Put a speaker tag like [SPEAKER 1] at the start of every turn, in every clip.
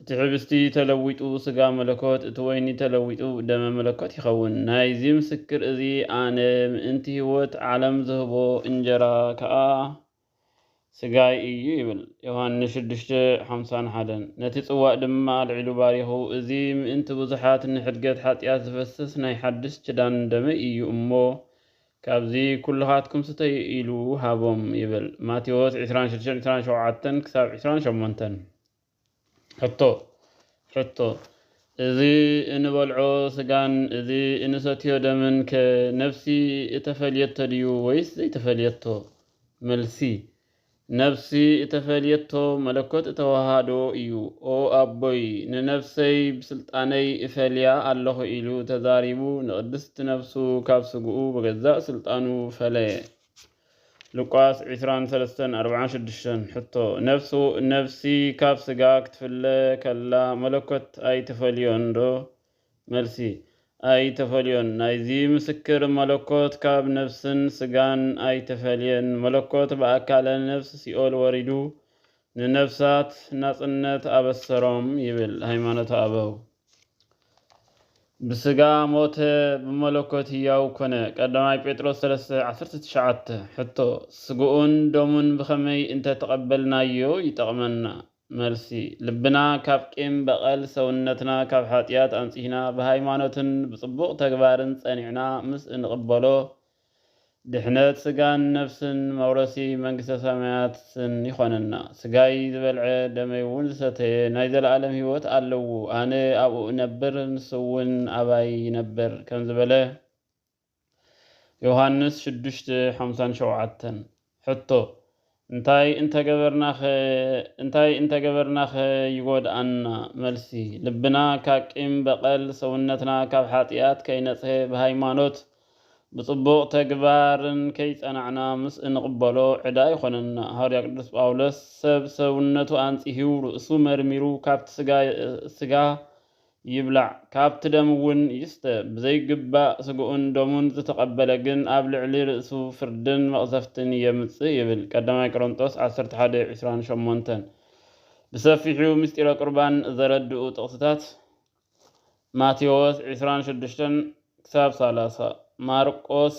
[SPEAKER 1] እቲ ሕብስቲ ተለዊጡ ሥጋ መለኮት፣ እቲ ወይኒ ተለዊጡ ደመ መለኮት ይኸውን። ናይዚ ምስክር እዚ ኣነ ምእንቲ ሕይወት ዓለም ዝህቦ እንጀራ ከኣ ሥጋይ እዩ ይብል። ዮሐንስ ሽዱሽተ፣ ሓምሳን ሓደን። ነቲ ጽዋእ ድማ ኣልዒሉ ባሪኹ እዚ ምእንቲ ብዙኃት ንኅድገት ኃጢኣት ዝፈስስ ናይ ሓድስ ኪዳን ደመይ እዩ እሞ ካብዚ ኵልኻትኩም ስተዩ ኢሉ ሃቦም ይብል። ማቴዎስ ዕስራን ሽዱሽተን፣ ዕስራን ሸውዓተን ክሳብ ዕስራን ሸሞንተን። ሕቶ፣ ሕቶ፣ እዚ እንበልዖ ስጋን እዚ እንሰትዮ ደምን ከ ነፍሲ እተፈልየቶ ድዩ ወይስ ዘይተፈልየቶ? መልሲ፣ ነፍሲ እተፈልየቶ መለኮት እተወሃሃዶ እዩ። ኦ ኣቦይ ንነፍሰይ ብስልጣነይ እፈልያ ኣለኹ ኢሉ ተዛሪቡ ንቅድስት ነፍሱ ካብ ስግኡ ብገዛእ ስልጣኑ ፈለየ። ሉቃስ ዕስራን ሰለስተን ኣርባዓን ሽዱሽተን፣ ሕቶ፣ ነፍሱ፣ ነፍሲ ካብ ስጋ ክትፍለ ከላ መለኮት ኣይትፈልዮንዶ? መልሲ፣ ኣይተፈልዮን፣ ናይዚ ምስክር መለኮት ካብ ነፍስን ስጋን ኣይተፈልየን፣ መለኮት ብኣካለ ነፍስ ሲኦል ወሪዱ ንነፍሳት ናጽነት ኣበሰሮም ይብል ሃይማኖተ ኣበው። ብስጋ ሞተ ብመለኮት ህያው ኮነ ቀዳማይ ጴጥሮስ ሰለስተ ዓሰርተ ትሽዓተ ሕቶ፣ ስግኡን ደሙን ብኸመይ እንተ ተቐበልናዮ ይጠቕመና? መልሲ፣ ልብና ካብ ቂም በቐል፣ ሰውነትና ካብ ሓጢኣት ኣንጺህና፣ ብሃይማኖትን ብጽቡቕ ተግባርን ጸኒዕና ምስ እንቕበሎ ድሕነት ስጋን ነፍስን መውረሲ መንግስተ ሰማያትን ይኾነና። ስጋይ ዝበልዐ ደመይውን ዝሰተየ ናይ ዘለኣለም ህይወት ኣለዉ፣ ኣነ ኣብኡ እነብር ንሱውን ኣባይ ይነብር ከምዝበለ ዮሃንስ ሽዱሽተ ሓምሳን ሸውዓተን። ሕቶ፣ እንታይ እንተገበርናኸ እንታይ እንተገበርናኸ ይጎድኣና? መልሲ፣ ልብና ካብ ቂም በቐል፣ ሰውነትና ካብ ሓጥያት ከይነጽሄ ብሃይማኖት ብጽቡቕ ተግባርን ከይጸናዕና ምስ እንቕበሎ ዕዳ ይኾነና። ሃዋርያ ቅዱስ ጳውሎስ ሰብ ሰውነቱ ኣንጽሂው ርእሱ መርሚሩ ካብቲ ስጋ ስጋ ይብላዕ ካብቲ ደም እውን ይስተ። ብዘይግባእ ስግኡን ደሙን ዝተቐበለ ግን ኣብ ልዕሊ ርእሱ ፍርድን መቕዘፍትን የምጽእ ይብል፣ ቀዳማይ ቆሮንጦስ ዓሰርተ ሓደ ዕስራን ሸሞንተን። ብሰፊሑ ምስጢረ ቁርባን ዘረድኡ ጥቕስታት፣ ማቴዎስ ዕስራን ሽዱሽተን ክሳብ ሰላሳ፣ ማርቆስ፣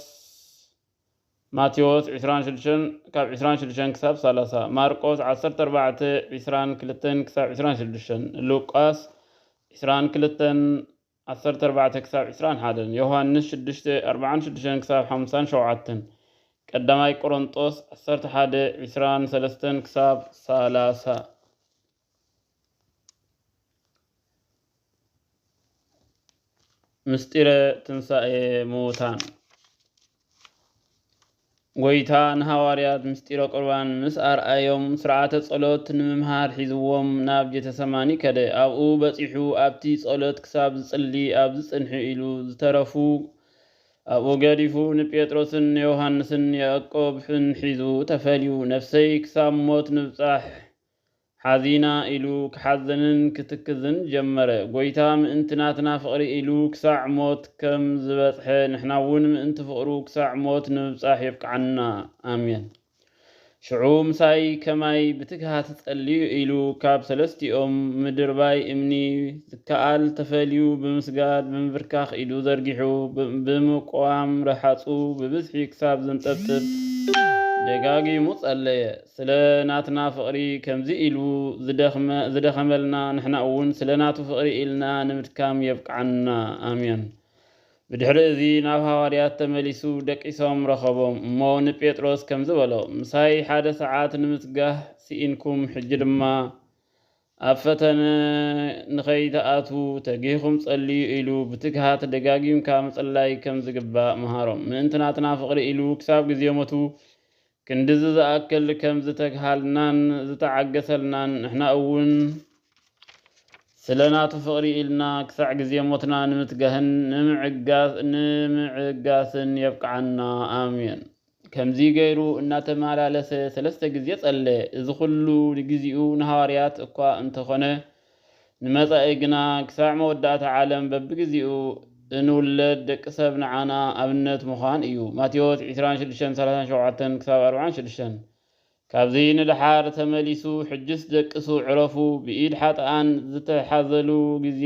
[SPEAKER 1] ማቴዎስ ዕስራን ሽዱሽተን ካብ ዕስራን ሽዱሽተን ክሳብ ሳላሳ፣ ማርቆስ ዓሰርተ ኣርባዕተ ዕስራን ክልተን ክሳብ ዕስራን ሽዱሽተን፣ ሉቃስ ዕስራን ክልተን ዓሰርተ ኣርባዕተ ክሳብ ዕስራን ሓደን፣ ዮሃንስ ሽዱሽተ ኣርብዓን ሽዱሽተን ክሳብ ሓምሳን ሸውዓተን፣ ቀዳማይ ቆሮንጦስ ዓሰርተ ሓደ ዕስራን ሰለስተን ክሳብ ሳላሳ። ምስጢረ ትንሣኤ ምዉታን ጐይታ ንሃዋርያት ምስጢረ ቁርባን ምስ ኣርኣዮም ስርዓተ ጸሎት ንምምሃር ሒዝዎም ናብ ጀተሰማኒ ከደ። ኣብኡ በጺሑ ኣብቲ ጸሎት ክሳብ ዝጽሊ ኣብዚ ጽንሒ ኢሉ ዝተረፉ ኣብኡ ገዲፉ ንጴጥሮስን ዮሃንስን ያዕቆብን ሒዙ ተፈልዩ ነፍሰይ ክሳብ ሞት ምብጻሕ ሓዚና ኢሉ ክሓዝንን ክትክዝን ጀመረ። ጎይታ ምእንቲ ናትና ፍቕሪ ኢሉ ክሳዕ ሞት ከም ዝበጽሐ ንሕና እውን ምእንቲ ፍቕሩ ክሳዕ ሞት ንምብጻሕ የብቅዓና። ኣሜን። ሽዑ ምሳይ ከማይ ብትግሃት ጸልዩ ኢሉ ካብ ሰለስቲኦም ምድርባይ እምኒ ዝከኣል ተፈልዩ ብምስጋድ ብምብርካኽ ኢዱ ዘርጊሑ ብምቁዋም ረሃጹ ብብዝሒ ክሳብ ዘንጠብጥብ ደጋጊሙ ጸለየ። ስለ ናትና ፍቕሪ ከምዚ ኢሉ ዝደኽመ ዝደኸመልና ንሕና እውን ስለ ናቱ ፍቕሪ ኢልና ንምድካም የብቅዓና ኣሜን። ብድሕሪ እዚ ናብ ሃዋርያት ተመሊሱ ደቂሶም ረኸቦም እሞ ንጴጥሮስ ከምዚ በሎ ምሳይ ሓደ ሰዓት ንምስጋህ ስኢንኩም ሕጂ ድማ ኣብ ፈተነ ንኸይትኣትዉ ተጊህኹም ጸልዩ ኢሉ ብትግሃት ደጋጊምካ ምጽላይ ከም ዝግባእ መሃሮም ምእንቲ ናትና ፍቕሪ ኢሉ ክሳብ ግዜ ሞቱ ክንድዚ ዝኣክል ከም ዝተግሃልናን ዝተዓገሰልናን ንሕና እውን ስለ ናቱ ፍቕሪ ኢልና ክሳዕ ግዜ ሞትና ንምትጋህን ንምዕጋስን የብቅዓና ኣሜን። ከምዚ ገይሩ እናተመላለሰ ሰለስተ ግዜ ጸለየ። እዚ ኹሉ ንግዚኡ ንሃዋርያት እኳ እንተኾነ ንመጻኢ ግና ክሳዕ መወዳእታ ዓለም በብግዜኡ እንውለድ ደቂ ሰብ ንዓና ኣብነት ምዃን እዩ። ማቴዎስ ዕስራን ሽዱሽተን ሰላሳን ሸውዓተን ክሳብ ኣርብዓን ሽዱሽተን ካብዚ ንደሓር ተመሊሱ ሕጅስ ደቅሱ ዕረፉ ብኢድ ሓጥኣን ዝተሓዘሉ ግዜ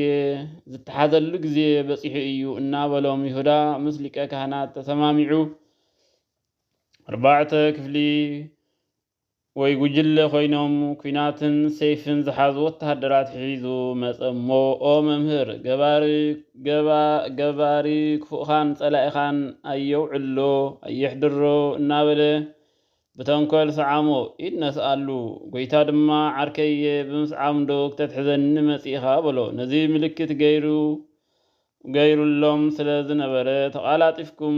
[SPEAKER 1] ዝተሓዘሉ ግዜ በጺሑ እዩ እናበሎም ይሁዳ ምስ ሊቀ ካህናት ተሰማሚዑ ኣርባዕተ ክፍሊ ወይ ጉጅለ ኮይኖም ኩናትን ሰይፍን ዝሓዙ ወተሃደራት ሒዙ መጸ እሞ ኦ መምህር ገባሪ ገባ ገባሪ ክፉእኻን ጸላኢኻን ኣየውዕሎ ኣየሕድሮ እናበለ ብተንኮል ሰዓሞ ኢድ ነስኣሉ ጎይታ ድማ ዓርከየ ብምስዓምዶ ክተትሕዘኒ መጺእኻ በሎ ነዚ ምልክት ገይሩ ገይሩሎም ስለ ዝነበረ ተቓላጢፍኩም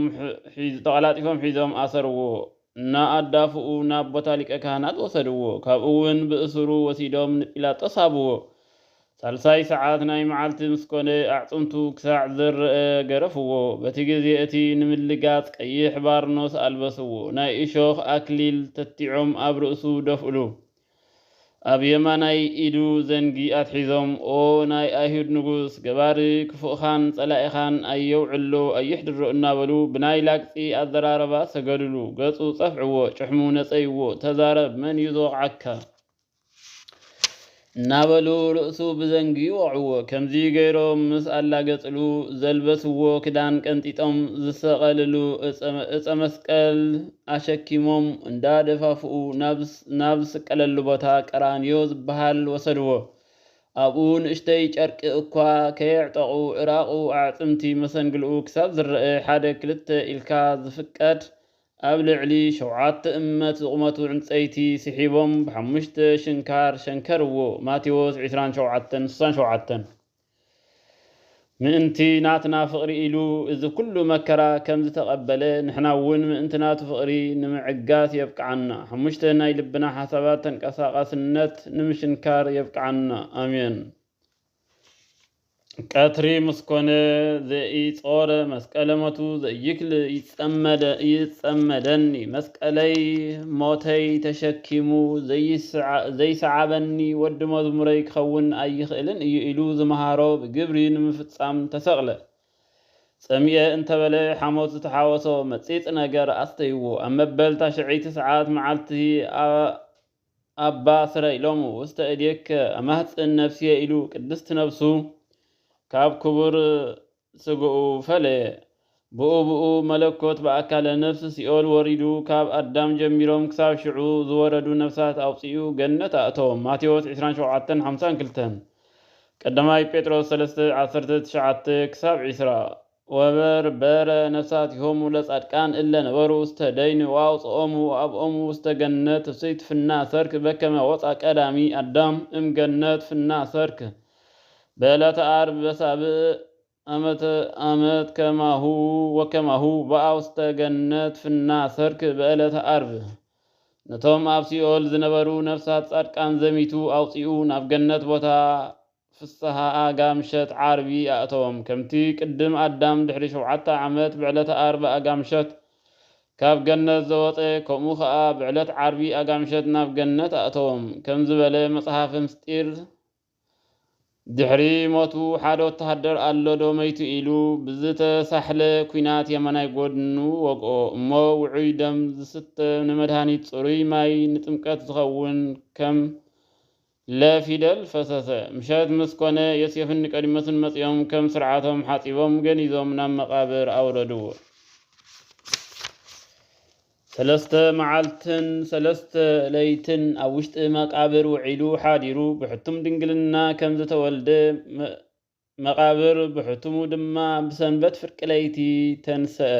[SPEAKER 1] ተቓላጢፎም ሒዞም ኣሰርዎ እና ኣዳፍኡ ናብ ቦታ ሊቀ ካህናት ወሰድዎ ካብኡ ውን ብእሱሩ ወሲዶም ንጲላጦስ ሃብዎ ሳልሳይ ሰዓት ናይ መዓልቲ ምስ ኮነ ኣዕጽምቱ ክሳዕ ዝረኣ ገረፍዎ በቲ ግዜ እቲ ንምልጋጽ ቀይሕ ባርኖስ ኣልበስዎ ናይ እሾኽ ኣክሊል ተቲዖም ኣብ ርእሱ ደፍእሉ ኣብ የማናይ ኢዱ ዘንጊ ኣትሒዞም ኦ ናይ ኣይሁድ ንጉስ ገባሪ ክፉእኻን ጸላኢኻን ኣየውዕሎ ኣየሕድሮ እናበሉ ብናይ ላግጺ ኣዘራርባ ሰገዱሉ ገጹ ጸፍዕዎ ጭሕሙ ነጸይዎ ተዛረብ መን እዩ ዝወቕዓካ እናበሉ ርእሱ ብዘንጊ ወቕዕዎ ከምዚ ገይሮም ምስ ኣላገጽሉ ዘልበስዎ ክዳን ቀንጢጦም ዝሰቐልሉ እጸ መስቀል ኣሸኪሞም እንዳደፋፍኡ ናብ ናብ ዝስቀለሉ ቦታ ቀራንዮ ዝበሃል ወሰድዎ። ኣብኡ ንእሽተይ ጨርቂ እኳ ከየዕጠቑ እራቑ ኣዕጽምቲ መሰንግልኡ ክሳብ ዝረኣ ሓደ ክልተ ኢልካ ዝፍቀድ ኣብ ልዕሊ ሸውዓተ እመት ዝቑመቱ ዕንጸይቲ ስሒቦም ብሓሙሽተ ሽንካር ሸንከርዎ፣ ማቴዎስ ዕስራን ሸውዓተን ስሳን ሸውዓተን። ምእንቲ ናትና ፍቕሪ ኢሉ እዚ ኩሉ መከራ ከም ዝተቐበለ ንሕና እውን ምእንቲ ናቱ ፍቕሪ ንምዕጋት የብቅዓና። ሓሙሽተ ናይ ልብና ሓሳባት ተንቀሳቓስነት ንምሽንካር የብቅዓና። ኣሜን። ቀትሪ ምስ ኮነ ዘኢጾረ መስቀለ ሞቱ ዘይክል ይጸመደኒ መስቀለይ ሞተይ ተሸኪሙ ዘይሰዓበኒ ወዲ መዝሙረይ ክኸውን ኣይኽእልን እዩ ኢሉ ዝመሃሮ ብግብሪ ንምፍጻም ተሰቕለ። ጸሚኤ እንተበለ ሓሞት ዝተሓወሶ መጺጽ ነገር ኣስተይዎ ኣብ መበል ታሽዐይቲ ሰዓት መዓልቲ ኣባ ስረ ኢሎሙ ውስተ እዴከ ኣማህጽን ነፍስየ ኢሉ ቅድስት ነፍሱ ካብ ክቡር ስጋኡ ፈለየ። ብኡ ብኡ መለኮት ብኣካለ ነፍስ ሲኦል ወሪዱ ካብ ኣዳም ጀሚሮም ክሳብ ሽዑ ዝወረዱ ነፍሳት ኣውጺኡ ገነት ኣእተዎም ማቴዎስ ዕስራን ሸውዓተን ሓምሳን ክልተን ቀዳማይ ጴጥሮስ ሰለስተ ዓሰርተ ትሽዓተ ክሳብ ዕስራ ወበር በረ ነፍሳቲሆሙ ለጻድቃን እለ ነበሩ ውስተ ደይን ወኣውጽኦሙ ወኣብኦሙ ውስተ ገነት ፍሥሕት ፍና ሰርክ በከመ ወጽኣ ቀዳሚ ኣዳም እም ገነት ፍና ሰርክ በዕለተ ዓርብ በሳብዕ ዓመተ ዓመት ከማሁ ወከማሁ በኣ ውስተ ገነት ፍና ሰርክ በዕለተ ዓርብ ነቶም ኣብ ሲኦል ዝነበሩ ነፍሳት ጻድቃን ዘሚቱ ኣውጺኡ ናብ ገነት ቦታ ፍስሃ ኣጋ ምሸት ዓርቢ ኣእተዎም ከምቲ ቅድም ኣዳም ድሕሪ ሸውዓተ ዓመት በዕለተ ዓርብ ኣጋ ምሸት ካብ ገነት ዘወጸ ከምኡ ከኣ በዕለት ዓርቢ ኣጋ ምሸት ናብ ገነት ኣእተዎም ከም ዝበለ መጽሓፈ ምስጢር ድሕሪ ሞቱ ሓደ ወተሃደር ኣሎ ዶ መይቱ ኢሉ ብዝተሳሕለ ኲናት የማናይ ጎድኑ ወግኦ እሞ ውዑይ ደም ዝስተ ንመድሃኒት ጽሩይ ማይ ንጥምቀት ዝኸውን ከም ለ ፊደል ፈሰሰ። ምሸት ምስ ኮነ ዮሴፍን ኒቆዲሞስን መጺኦም ከም ስርዓቶም ሓጺቦም ገኒዞም ናብ መቃብር ኣውረድዎ። ሰለስተ መዓልትን ሰለስተ ለይትን ኣብ ውሽጢ መቃብር ውዒሉ ሓዲሩ ብሕቱም ድንግልና ከም ዝተወልደ መቃብር ብሕቱሙ ድማ ብሰንበት ፍርቂ ለይቲ ተንሰኣ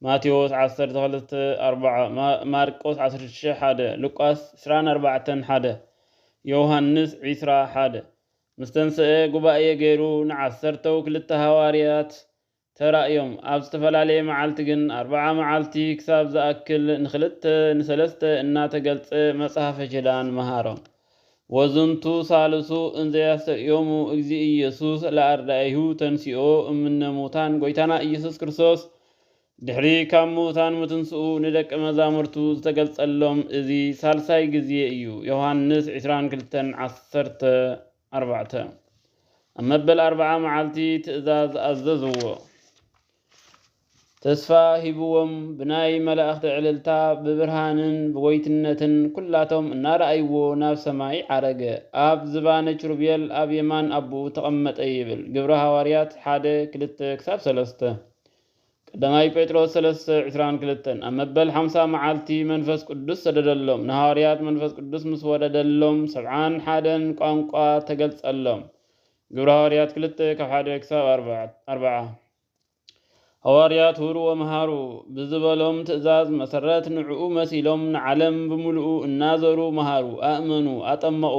[SPEAKER 1] ማቴዎስ ዓሰርተ ክልተ ኣርብዓ ማርቆስ ዓሰርተ ሽዱሽተ ሓደ ሉቃስ ዕስራን ኣርባዕተን ሓደ ዮውሃንስ ዕስራ ሓደ ምስ ተንሰኣ ጉባኤ ገይሩ ንዓሰርተው ክልተ ሃዋርያት ተራእዮም። ኣብ ዝተፈላለየ መዓልቲ ግን ኣርብዓ መዓልቲ ክሳብ ዝኣክል ንክልተ ንሰለስተ እናተገልጸ መጽሐፈ ኪዳን መሃሮም። ወዝንቱ ሣልሱ እንዘ ያስተርእዮሙ እግዚእ ኢየሱስ ለኣርዳኢሁ ተንሥኦ እምነ ሙታን ጐይታና ኢየሱስ ክርስቶስ ድሕሪ ካብ ምዉታን ምትንሥኡ ንደቀ መዛሙርቱ ዝተገልጸሎም እዚ ሣልሳይ ጊዜ እዩ ዮሐንስ ዕስራን ክልተን ዓሰርተ ኣርባዕተ። ኣብ መበል ኣርብዓ መዓልቲ ትእዛዝ ኣዘዝዎ። ተስፋ ሂብዎም ብናይ መላእኽቲ ዕልልታ ብብርሃንን ብጎይትነትን ኩላቶም እናረኣይዎ ናብ ሰማይ ዓረገ። ኣብ ዝባነ ኪሩቤል ኣብ የማን ኣቦኡ ተቐመጠ ይብል ግብረ ሃዋርያት ሓደ ክልተ ክሳብ ሰለስተ። ቀዳማይ ጴጥሮስ ሰለስተ ዕስራን ክልተን፣ ኣብ መበል ሓምሳ መዓልቲ መንፈስ ቅዱስ ሰደደሎም፣ ንሃዋርያት መንፈስ ቅዱስ ምስ ወረደሎም ሰብዓን ሓደን ቋንቋ ተገልጸሎም፣ ግብሪ ሃዋርያት ክልተ ካብ ሓደ ክሳብ ኣርብዓ። ሃዋርያት ሁርዎ መሃሩ ብዝበሎም ትእዛዝ መሰረት ንዕኡ መሲሎም ንዓለም ብምሉኡ እናዘሩ መሃሩ፣ ኣእመኑ፣ ኣጠመቑ፣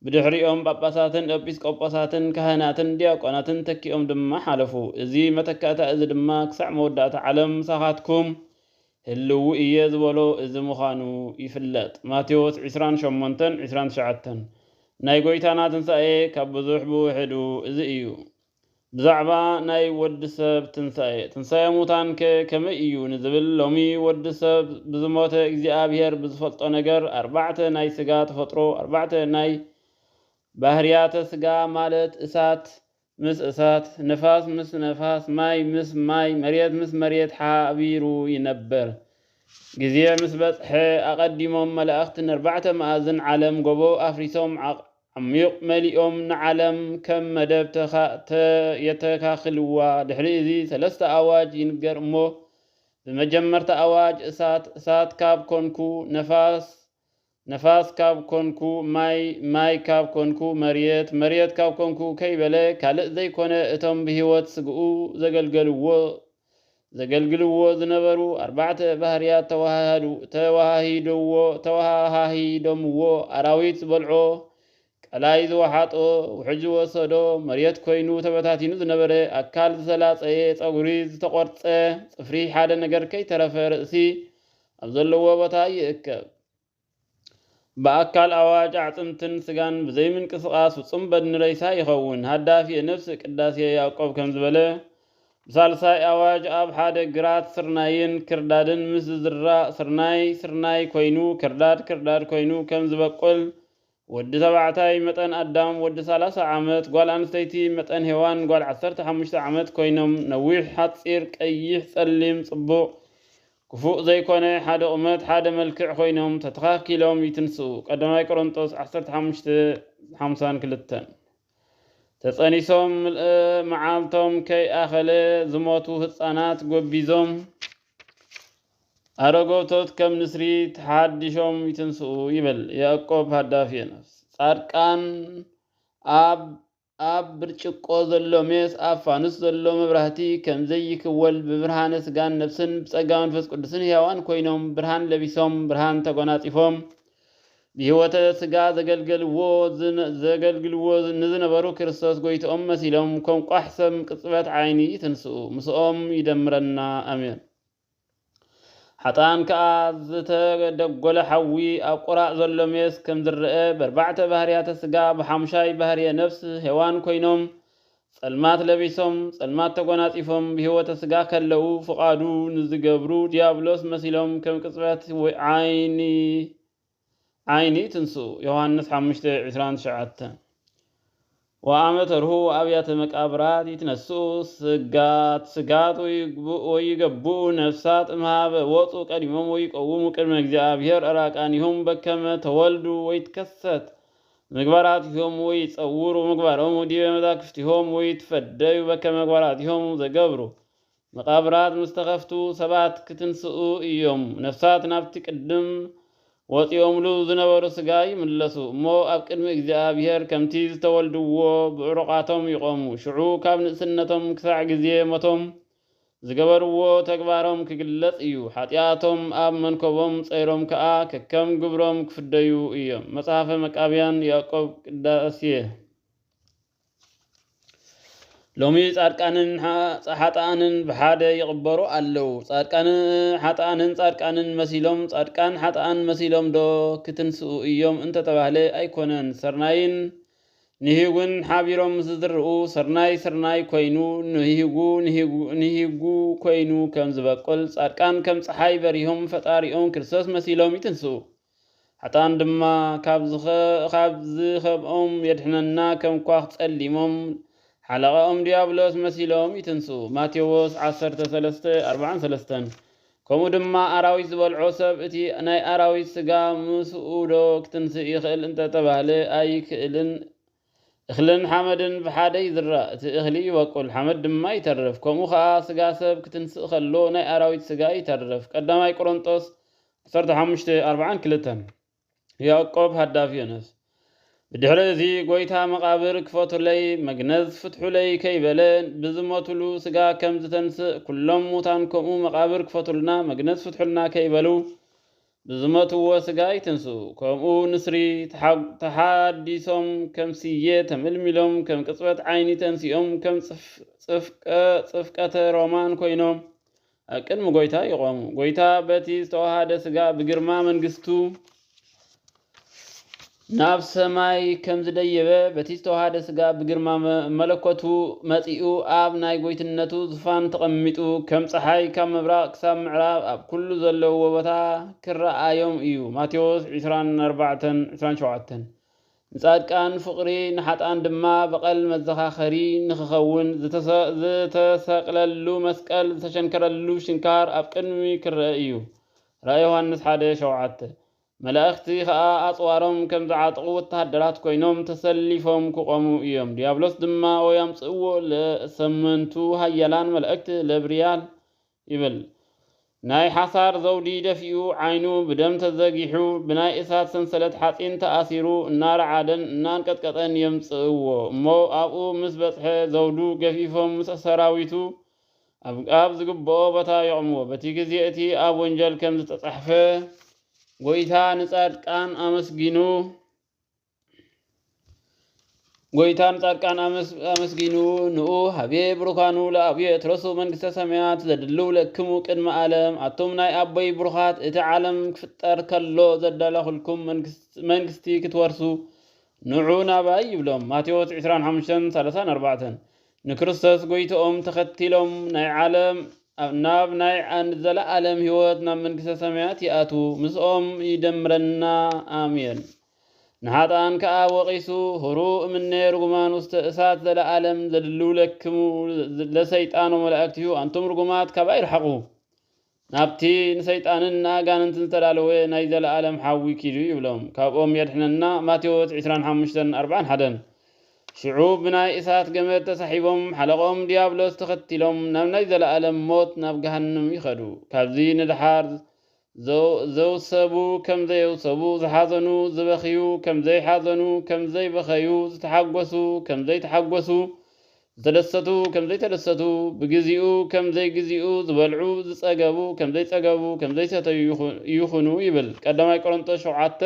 [SPEAKER 1] ብድሕሪኦም ጳጳሳትን ኤጲስቆጶሳትን ካህናትን ዲያቆናትን ተኪኦም ድማ ሓለፉ። እዚ መተካእታ እዚ ድማ ክሳዕ መወዳእታ ዓለም ምሳኻትኩም ህልው እየ ዝበሎ እዚ ምዃኑ ይፍለጥ። ማቴዎስ ዕስራን ሸሞንተን ዕስራን ትሽዓተን። ናይ ጐይታና ትንሳኤ ካብ ብዙሕ ብውሕዱ እዚ እዩ። ብዛዕባ ናይ ወዲ ሰብ ትንሳኤ፣ ትንሳኤ ሙታንከ ከመይ እዩ ንዝብል፣ ሎሚ ወዲ ሰብ ብዝሞተ እግዚኣብሔር ብዝፈልጦ ነገር ኣርባዕተ ናይ ሥጋ ተፈጥሮ፣ ኣርባዕተ ናይ ባህርያተ ሥጋ ማለት እሳት ምስ እሳት፣ ንፋስ ምስ ነፋስ፣ ማይ ምስ ማይ፣ መሬት ምስ መሬት ሓቢሩ ይነብር። ግዜ ምስ በጽሐ ኣቐዲሞም መላእኽት ነርባዕተ መኣዝን ዓለም ጎቦ ኣፍሪሶም ዓሚዩቕ መሊኦም ንዓለም ከም መደብ ተካእተ የተካክልዋ። ድሕሪ እዚ ሰለስተ ኣዋጅ ይንገር እሞ ብመጀመርታ ኣዋጅ እሳት እሳት ካብ ኮንኩ፣ ነፋስ ነፋስ ካብ ኮንኩ፣ ማይ ማይ ካብ ኮንኩ፣ መርየት መርየት ካብ ኮንኩ ከይበለ ካልእ ዘይኮነ እቶም ብህይወት ስግኡ ዘገልገልዎ ዘገልግልዎ ዝነበሩ ኣርባዕተ ባህርያት ተወሃሃዱ፣ ተወሃሂዶዎ፣ ተወሃሃሂዶምዎ፣ ኣራዊት ዝበልዖ፣ ቀላይ ዝወሓጦ፣ ውሕጅ ዝወሰዶ፣ መሬት ኮይኑ ተበታቲኑ ዝነበረ ኣካል ዝተላጸየ፣ ጸጉሪ ዝተቖርጸ፣ ጽፍሪ ሓደ ነገር ከይተረፈ ርእሲ ኣብ ዘለዎ ቦታ ይእከብ። ብኣካል ኣዋጅ ኣዕጽምትን ስጋን ብዘይምንቅስቓስ ፍጹም በድኒ ሬሳ ይኸውን። ሃዳፊ ነፍስ ቅዳሴ ያዕቆብ ከምዚ በለ፣ ብሳልሳይ ኣዋጅ ኣብ ሓደ ግራት ስርናይን ክርዳድን ምስ ዝዝራእ ስርናይ ስርናይ ኮይኑ ክርዳድ ክርዳድ ኮይኑ ከም ዝበቁል ወዲ ተባዕታይ መጠን ኣዳም ወዲ ሰላሳ ዓመት፣ ጓል ኣንስተይቲ መጠን ሄዋን ጓል ዓሰርተ ሓሙሽተ ዓመት ኮይኖም ነዊሕ ሓጺር ቀይሕ ጸሊም ጽቡቕ ክፉእ ዘይኮነ ሓደ ቁመት ሓደ መልክዕ ኮይኖም ተተኻኪሎም ይትንስኡ ቀዳማይ ቆሮንጦስ ዓሰርተ ሓሙሽተ ሓምሳን ክልተን ተጸኒሶም ምልእ መዓልቶም ከይኣኸለ ዝሞቱ ህጻናት ጎቢዞም ኣረጎቶት ከም ንስሪ ተሓዲሾም ይትንስኡ ይብል ያእቆብ ሃዳፊ የነፍስ ጻድቃን ኣብ ኣብ ብርጭቆ ዘሎ ሜስ ኣብ ፋኑስ ዘሎ መብራህቲ ከም ዘይክወል ብብርሃነ ስጋን ነፍስን ብጸጋ መንፈስ ቅዱስን ሕያዋን ኮይኖም ብርሃን ለቢሶም ብርሃን ተጎናጺፎም ብህይወተ ስጋ ዘገልገልዎ ዘገልግልዎ ንዝነበሩ ክርስቶስ ጎይትኦም መሲሎም ከም ቋሕ ሰም ቅጽበት ዓይኒ ይትንስኡ ምስኦም ይደምረና ኣሜን። ሓጥኣን ከኣ ዝተደጎለ ሓዊ ኣብ ቁራእ ዘሎ ሜስ ከም ዝረኣ በርባዕተ ባህርያተ ስጋ ብሓሙሻይ ባህርየ ነፍስ ሄዋን ኮይኖም ጸልማት ለቢሶም፣ ጸልማት ተጎናጺፎም ብሕይወተ ሥጋ ከለዉ ፍቓዱ ንዚገብሩ ዲያብሎስ መሲሎም ከም ቅጽበት ወይ ዓይኒ ዓይኒ ይትንስኡ፣ ዮሐንስ ሓሙሽተ ዕስራን ትሽዓተን። ወአመ ተርሁ ወአብያተ መቃብራት ይትነስኡ ሥጋት ሥጋት ወይገቡኡ ነፍሳት እምኀበ ወጹ ቀዲሞም ወይቀውሙ ቅድመ እግዚአብሔር ዕራቃኒሆም በከመ ተወልዱ ወይትከሰት ምግባራቲሆሙ ይጸውሩ ምግባሮሙ ዲበ መዛክፍቲሆሙ ወይትፈደዩ በከመ ምግባራቲሆሙ ዘገብሩ። መቓብራት ምስ ተኸፍቱ ሰባት ክትንስኡ ኢዮም። ነፍሳት ናብቲ ቅድም ወጺኦምሉ ዝነበሩ ስጋ ይምለሱ እሞ ኣብ ቅድሚ እግዚኣብሄር ከምቲ ዝተወልድዎ ብዕሩቓቶም ይቖሙ። ሽዑ ካብ ንእስነቶም ክሳዕ ግዜ ሞቶም ዝገበርዎ ተግባሮም ክግለጽ እዩ፣ ሓጢኣቶም ኣብ መንኮቦም ጸይሮም ከኣ ከከም ግብሮም ክፍደዩ እዮም። መጽሓፈ መቃብያን ያእቆብ ቅዳሴ። ሎሚ ጻድቃንን ሓጥኣንን ብሓደ ይቕበሩ ኣለዉ። ጻድቃን ሓጥኣንን ጻድቃንን መሲሎም ጻድቃን ሓጥኣን መሲሎምዶ ክትንስኡ እዮም እንተተባህለ ኣይኮነን። ሰርናይን ንሂጉን ሓቢሮም ምስ ዝዝርኡ ስርናይ ስርናይ ኮይኑ ንሂጉ ንሂጉ ኮይኑ ከም ዝበቁል ጻድቃን ከም ጸሓይ በሪሆም ፈጣሪኦም ክርስቶስ መሲሎም ይትንስኡ ሓጥኣን ድማ ካብ ዝኸብኦም የድሕነና ከም ኳኽ ጸሊሞም ሓለቓኦም ድያብሎስ መሲሎም ይትንስኡ ማቴዎስ ዓሰርተ ሰለስተ ኣርብዓን ሰለስተን ከምኡ ድማ ኣራዊት ዝበልዖ ሰብ እቲ ናይ ኣራዊት ስጋ ምስኡ ዶ ክትንስእ ይኽእል እንተ ተባህለ ኣይክእልን። እኽልን ሓመድን ብሓደ ይዝራእ፣ እቲ እኽሊ ይበቁል፣ ሓመድ ድማ ይተርፍ። ከምኡ ኸኣ ስጋ ሰብ ክትንስእ ከሎ ናይ ኣራዊት ስጋ ይተርፍ። ቀዳማይ ቆሮንጦስ ዓሰርተ ሓሙሽተ፣ ኣርባዓን ክልተን። ያዕቆብ ሃዳፍ ዮነስ ብድሕሪ እዚ ጎይታ መቓብር ክፈቱለይ መግነዝ ፍትሑለይ ከይበለ ብዝሞቱሉ ስጋ ከም ዝተንስእ ኩሎም ሙታን ከምኡ መቓብር ክፈቱልና መግነዝ ፍትሑልና ከይበሉ ብዝመትዎ ስጋ ይትንስኡ ከምኡ ንስሪ ተሓዲሶም ከም ስየ ተመልሚሎም ከም ቅጽበት ዓይኒ ተንሲኦም ከም ጽፍቀ ጽፍቀተ ሮማን ኮይኖም ኣብ ቅድሚ ጐይታ ይቖሙ። ጐይታ በቲ ዝተዋሃደ ሥጋ ብግርማ መንግሥቱ ናብ ሰማይ ከም ዝደየበ በቲ ዝተዋሃደ ሥጋ ብግርማ መለኮቱ መጺኡ ኣብ ናይ ጐይትነቱ ዙፋን ተቐሚጡ ከም ፀሓይ ካብ ምብራቕ ክሳብ ምዕራብ ኣብ ኩሉ ዘለዎ ቦታ ክረኣዮም እዩ። ማቴዎስ 24፣ 27 ንጻድቃን ፍቕሪ ንሓጥኣን ድማ በቐል መዘኻኸሪ ንኽኸውን ዝተሰቕለሉ መስቀል ዝተሸንከረሉ ሽንካር ኣብ ቅድሚ ክረኣ እዩ ራእይ ዮሃንስ ሓደ ሸውዓተ መላእኽቲ ኸኣ ኣጽዋሮም ከም ዝዓጥቑ ወተሃደራት ኮይኖም ተሰሊፎም ክቖሙ እዮም ድያብሎስ ድማ ወይ ኣምጽእዎ ለሰመንቱ ኃያላን መላእክት ለብርያል ይብል ናይ ሓሳር ዘውዲ ደፊኡ ዓይኑ ብደም ተዘጊሑ ብናይ እሳት ሰንሰለት ሓጺን ተኣሲሩ እናረዓደን እናንቀጥቀጠን የምጽእዎ እሞ ኣብኡ ምስ በጽሐ ዘውዱ ገፊፎም ምስ ሰራዊቱ ኣብ ኣብ ዝግብኦ ቦታ የቕምዎ በቲ ግዜ እቲ ኣብ ወንጀል ከም ዝተጻሕፈ ጎይታ ንጻድቃን ኣመስጊኑ ጎይታን ጻድቃን ኣመስጊኑ ንኡ ሃቤ ብሩካኑ ለኣብዮ የትረሱ መንግስተ ሰማያት ዘድልው ለክሙ ቅድመ ዓለም ኣቱም ናይ ኣቦይ ብሩኻት እቲ ዓለም ክፍጠር ከሎ ዘዳላኹልኩም መንግስቲ ክትወርሱ ንዑ ናባይ ይብሎም ማቴዎስ 25:34 ንክርስቶስ ጎይትኦም ተኸቲሎም ናይ ዓለም ናብ ናይ ዘለዓለም ህይወት ናብ መንግስተ ሰማያት ይኣቱ ምስኦም ይደምረና ኣሜን ንኃጥኣን ከኣ ወቒሱ ኅሩ እምኔ ርጉማን ውስተ እሳት ዘለዓለም ዘድልውለክሙ ለሰይጣን ወመላእክቲሁ ኣንቱም ርጉማት ካባይ ርሓቑ ናብቲ ንሰይጣንን ንኣጋንንትን ዝተዳለወ ናይ ዘለዓለም ሓዊ ኪዱ ይብሎም ካብኦም የድኅነና ማቴዎስ ዕስራን ሓሙሽተን ኣርብዓን ሓደን ሽዑ ብናይ እሳት ገመድ ተሳሒቦም ሓለቕኦም ድያብሎስ ተኸቲሎም ናብ ናይ ዘለዓለም ሞት ናብ ገሃንም ይኸዱ ካብዚ ንደሓር ዘውሰቡ ከም ዘየውሰቡ፣ ዝሓዘኑ ዝበኽዩ ከም ዘይሓዘኑ፣ ከም ዘይበኸዩ፣ ዝተሓጐሱ ከም ዘይተሓጐሱ፣ ዝተደሰቱ ከም ዘይተደሰቱ፣ ብግዜኡ ከም ዘይግዜኡ፣ ዝበልዑ፣ ዝጸገቡ ከም ዘይጸገቡ፣ ከም ዘይሰተዩ ይኹኑ ይብል ቀዳማይ ቆሮንጦስ ሸውዓተ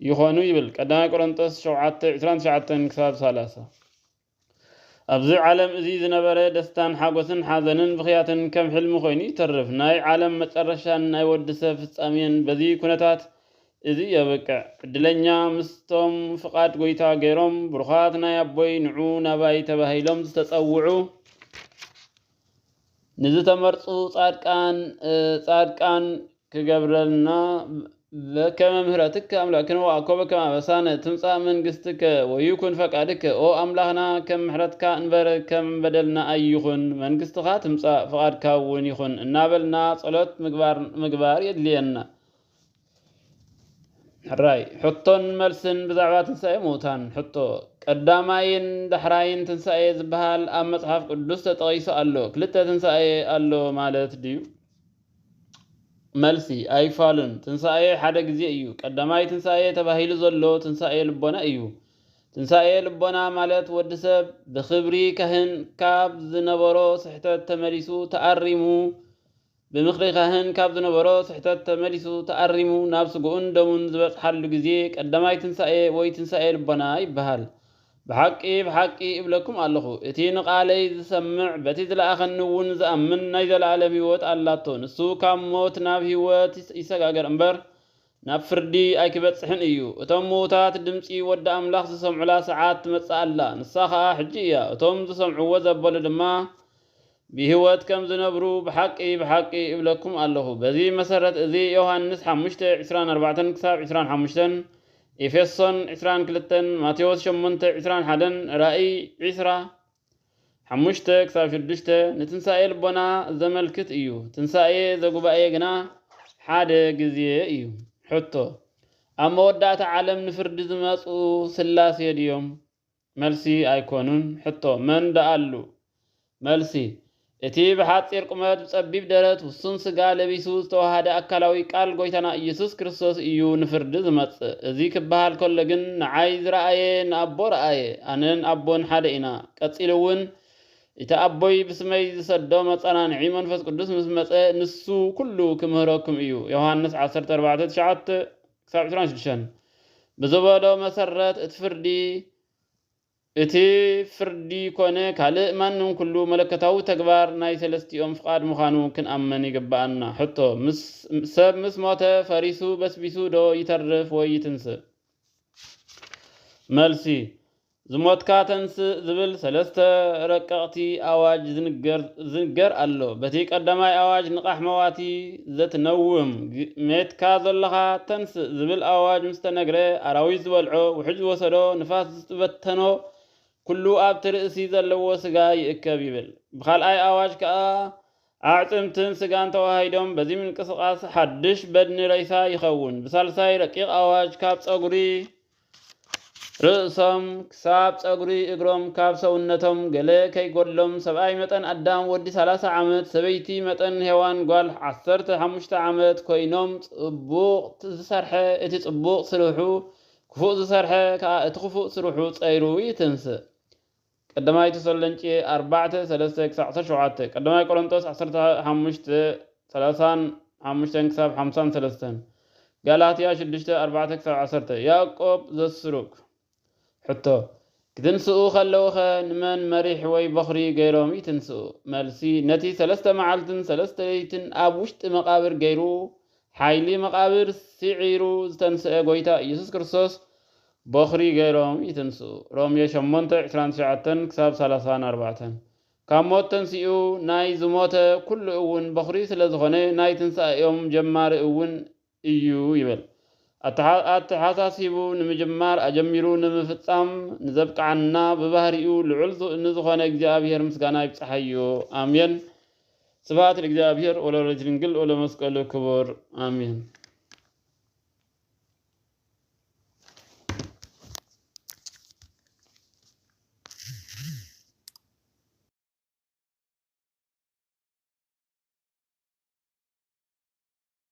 [SPEAKER 1] ይኾኑ ይብል ቀዳማይ ቆሮንጦስ ሸውዓተ ዕስራን ትሽዓተን ክሳብ ሰላሳ። ኣብዚ ዓለም እዚ ዝነበረ ደስታን ሓጎስን ሓዘንን ብኽያትን ከም ሕልሚ ኮይኑ ይተርፍ። ናይ ዓለም መጨረሻን ናይ ወዲ ሰብ ፍጻሜን በዚ ኩነታት እዚ የብቅዕ። ዕድለኛ ምስቶም ፍቓድ ጎይታ ገይሮም ብሩኻት ናይ ኣቦይ ንዑ ናባይ ተባሂሎም ዝተጸውዑ፣ ንዝተመርጹ ጻድቃን ጻድቃን ክገብረልና በከመ ምህረትከ ኣምላክ ክንዋእኮ በከመ ኣበሳነ ትምጻእ መንግስትከ ወይኩን ፈቃድከ ኦ ኣምላክና ከም ምሕረትካ እንበር ከም በደልና ኣይኹን መንግስትኻ ትምጻእ ፍቃድካ እውን ይኹን እናበልና ጸሎት ምግባር ምግባር የድልየና ሕራይ ሕቶን መልስን ብዛዕባ ትንሣኤ ምዉታን ሕቶ ቀዳማይን ዳሕራይን ትንሣኤ ዝበሃል ኣብ መጽሓፍ ቅዱስ ተጠቒሱ ኣሎ ክልተ ትንሣኤ ኣሎ ማለት ድዩ መልሲ ኣይፋሉን ትንሣኤ ሓደ ጊዜ እዩ። ቀዳማይ ትንሣኤ ተባሂሉ ዘሎ ትንሣኤ ልቦና እዩ። ትንሣኤ ልቦና ማለት ወዲ ሰብ ብኽብሪ ካህን ካብ ዝነበሮ ስሕተት ተመሊሱ ተኣሪሙ ብምኽሪ ካህን ካብ ዝነበሮ ስሕተት ተመሊሱ ተኣሪሙ ናብ ስግኡን ደሙን ዝበጽሓሉ ግዜ ቀዳማይ ትንሳኤ ወይ ትንሳኤ ልቦና ይበሃል። ብሓቂ ብሓቂ እብለኩም ኣለኹ እቲ ንቓለይ ዝሰምዕ በቲ ዝለኣኸኒ እውን ዝኣምን ናይ ዘለኣለም ህይወት ኣላቶ ንሱ ካብ ሞት ናብ ህይወት ይሰጋገር እምበር ናብ ፍርዲ ኣይኪበጽሕን እዩ። እቶም ምዉታት ድምጺ ወዲ ኣምላኽ ዚሰምዑላ ሰዓት ትመጽእ ኣላ፣ ንሳ ኸኣ ሕጂ እያ፣ እቶም ዚሰምዕዎ ዘበሉ ድማ ብህይወት ከም ዚነብሩ ብሓቂ፣ ብሓቂ፣ እብለኩም ኣለኹ። በዚ መሰረት እዚ ዮሃንስ ሓሙሽተ፣ ዕስራን ኣርባዕተን ክሳብ ዕስራን ሓሙሽተን፣ ኤፌሶን ዕስራን ክልተን፣ ማቴዎስ ሸሞንተ፣ ዕስራን ሓደን፣ ራእይ ዕስራ፣ ሓሙሽተ ክሳብ ሽዱሽተ ንትንሣኤ ልቦና ዘመልክት እዩ። ትንሣኤ ዘጉባኤ ግና ሓደ ግዜ እዩ። ሕቶ፣ ኣብ መወዳእታ ዓለም ንፍርዲ ዝመጽኡ ሥላሴ ድዮም? መልሲ፣ ኣይኮኑን። ሕቶ፣ መን ደኣሉ? መልሲ፣ እቲ ብሓጺር ቁመት፣ ብጸቢብ ደረት፣ ውሱን ስጋ ለቢሱ ዝተወሃሃደ ኣካላዊ ቃል ጎይታና ኢየሱስ ክርስቶስ እዩ ንፍርዲ ዝመጽእ። እዚ ክበሃል ከሎ ግን ንዓይ ዝረኣየ ንኣቦ ረኣየ፣ ኣነን ኣቦን ሓደ ኢና። ቀጺሉ እውን እቲ ኣቦይ ብስመይ ዝሰዶ መጸናንዒ መንፈስ ቅዱስ ምስ መጸ ንሱ ኩሉ ክምህረኩም እዩ፣ ዮሃንስ ዓሰርተ ኣርባዕተ ትሽዓተ፣ ዕስራን ሽዱሽተን፣ ብዝበሎ መሰረት እቲ ፍርዲ እቲ ፍርዲ ኮነ ካልእ ማንም ኩሉ መለኮታዊ ተግባር ናይ ሰለስቲኦም ፍቓድ ምዃኑ ክንኣምን ይግብኣና። ሕቶ፣ ምስ ሰብ ምስ ሞተ ፈሪሱ በስቢሱ ዶ ይተርፍ ወይ ይትንስእ? መልሲ፣ ዝሞትካ ተንስእ ዝብል ሰለስተ ረቀቕቲ ኣዋጅ ዝንገር ኣሎ። በቲ ቀዳማይ ኣዋጅ ንቓሕ መዋቲ ዘትነውም፣ ሜትካ ዘሎኻ ተንስእ ዝብል ኣዋጅ ምስተነግረ ኣራዊት ዝበልዖ፣ ውሕጅ ዝወሰዶ፣ ንፋስ ዝተበተኖ ኩሉ ኣብቲ ርእሲ ዘለዎ ስጋ ይእከብ ይብል። ብካልኣይ ኣዋጅ ከኣ ኣዕጽምትን ስጋን ተወሃሂዶም በዚ ምንቅስቃስ ሓድሽ በድኒ ሬሳ ይኸውን። ብሳልሳይ ረቂቅ ኣዋጅ ካብ ጸጉሪ ርእሶም ክሳብ ጸጉሪ እግሮም ካብ ሰውነቶም ገለ ከይጎድሎም ሰብኣይ መጠን ኣዳም ወዲ ሰላሳ ዓመት ሰበይቲ መጠን ሄዋን ጓል ዓሰርተ ሓሙሽተ ዓመት ኮይኖም ጽቡቅ ዝሰርሐ እቲ ጽቡቅ ስርሑ ክፉእ ዝሰርሐ ከኣ እቲ ክፉእ ስርሑ ጸይሩ ይትንስእ። ቀዳማይ ተሰሎንቄ ኣርባዕተ፣ ሰለስተ ክሳዕ ዓሰርተ ሸውዓተ፣ ቀዳማይ ቆሮንጦስ ዓሰርተ ሓሙሽተ፣ ሰላሳን ሓሙሽተን ክሳብ ሓምሳን ሰለስተን፣ ጋላትያ ሽዱሽተ፣ ኣርባዕተ ክሳብ ዓሰርተ፣ ያእቆብ ዘስሩግ። ሕቶ፣ ክትንስኡ ከለዉኸ ንመን መሪሕ ወይ በዅሪ ገይሮም ይትንስኡ? መልሲ፣ ነቲ ሰለስተ መዓልትን ሰለስተ ለይትን ኣብ ውሽጢ መቓብር ገይሩ፣ ሓይሊ መቓብር ስዒሩ ዝተንስኤ ጐይታ ኢየሱስ ክርስቶስ በዅሪ ገይሮም ይትንስኡ። ሮሜ ሸሞንተ፣ ዕስራን ትሽዓተን ክሳብ ሰላሳን ኣርባዕተን። ካብ ሞት ተንሲኡ ናይ ዝሞተ ኩሉ እውን በዅሪ ስለ ዝኾነ ናይ ትንሳኤኦም ጀማሪ እውን እዩ ይብል። ኣተሓሳሲቡ ንምጅማር ኣጀሚሩ ንምፍጻም ንዘብቅዓና ብባህሪኡ ልዑል ንዝኾነ እግዚኣብሔር ምስጋና ይብጽሓዮ ኣሜን ስብሃት ለእግዚኣብሔር ወለወላዲቱ ድንግል ወለመስቀሉ ክቡር ኣሜን።